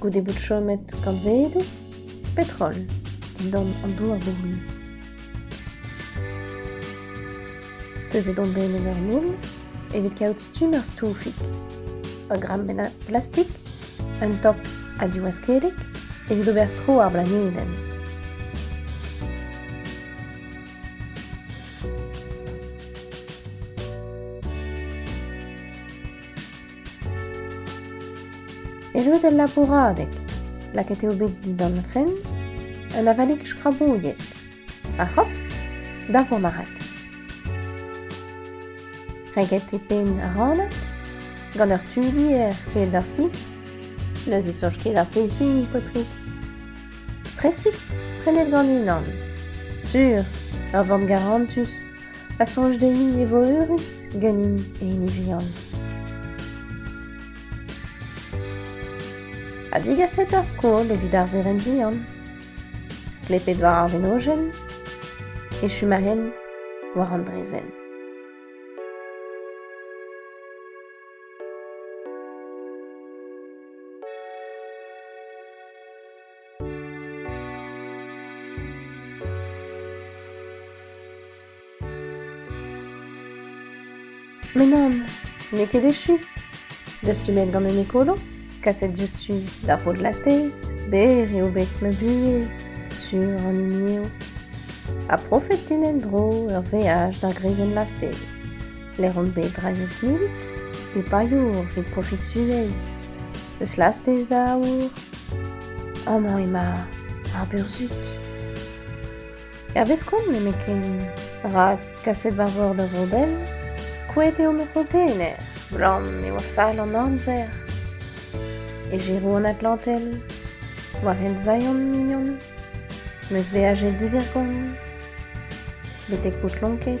goude bout chomet kantvedoù? Petrol, dindan an douar bobl. Teuzet on bet en ur moull evit kaout stumm ar stoufig. Ur gram benn plastik, un top ha diwaskedek evit ober tro ar blanedenn. Erruet el labouradeg, lakaet eo bet dindan fenn un avalig skrabouilhet. Ha hop, da gomarat. Reget e penn ar ranad gant ur studi er pedersmi. Ne zisoch ket ar pezhini, paotrig. Prestik prenet gant unan. Sur, ur vamm garantus a soñj dezhi e vo eürus ganin e hini vihan. Ha digaset ar skol evit ar verenn vihan. Stlepet war ar venojenn e chom a hent war an drezenn. Mais non, n'eo ket echu. Dastumet gant un ekolo, kaset diouzhtu d'ar pod lastez, ber eo bet ma buhez, sur an hini eo. Ha profet din en-dro ur veaj d'ar greizenn lastez. Lec'h on bet drailhet mut e payour evit profit Sunez. Eus lastez da aour amañ emañ ar burzhud. Hervez kont nemetken, rak kaset va vor da Vro-Bell, kouet eo ma c'honteener, blam e oa fall an amzer. E Giro an Atlantel, war hent Zion mignon, meus beajet divergont, betek Poutlonked.